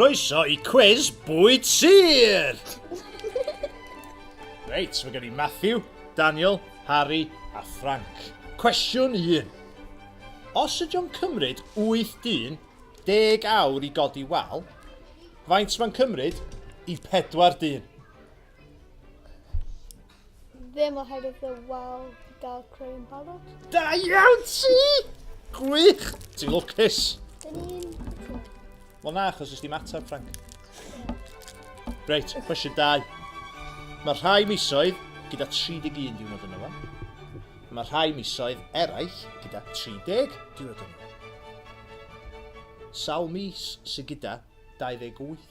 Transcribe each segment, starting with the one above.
Croeso i cwis bwyd sir! Reit, mae gen i Matthew, Daniel, Harry a Frank. Cwestiwn 1. Os ydy o'n cymryd 80 awr i godi wal, faint mae'n cymryd i 40 dyn? Ddim oherwydd y wal gael creu yn barod. Da iawn ti! Gwych! Ti'n lwcus! Dyn ni'n... Wel na, achos ysdi matab, Frank. Reit, cwestiwn dau. Mae rhai misoedd gyda 31 diwrnod yn yma. Mae rhai misoedd eraill gyda 30 diwrnod yn yma. Sawl mis sy'n gyda 28?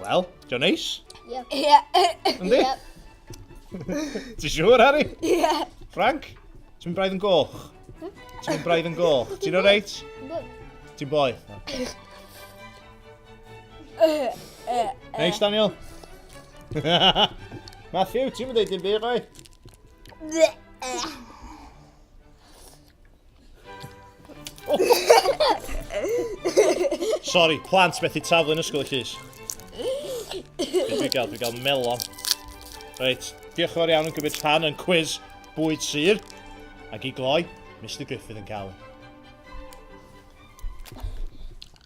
Wel, diolch neis? Ie. Ie. Yndi? Ti siŵr, Harry? Ie. Frank, ti'n mynd braidd yn goch? Hmm? Ti'n mynd braidd yn goch? Ti'n o reit? Ti'n boi? Neis, Daniel? Matthew, ti'n mynd ei dim byd, roi? Sorry, plant methu taflu yn ysgol y llys. Dwi'n gael, dwi'n gael melon. Reit, diolch yn fawr iawn yn gymryd rhan yn cwiz bwyd sir. Ac i gloi, Mr Griffith yn cael ei.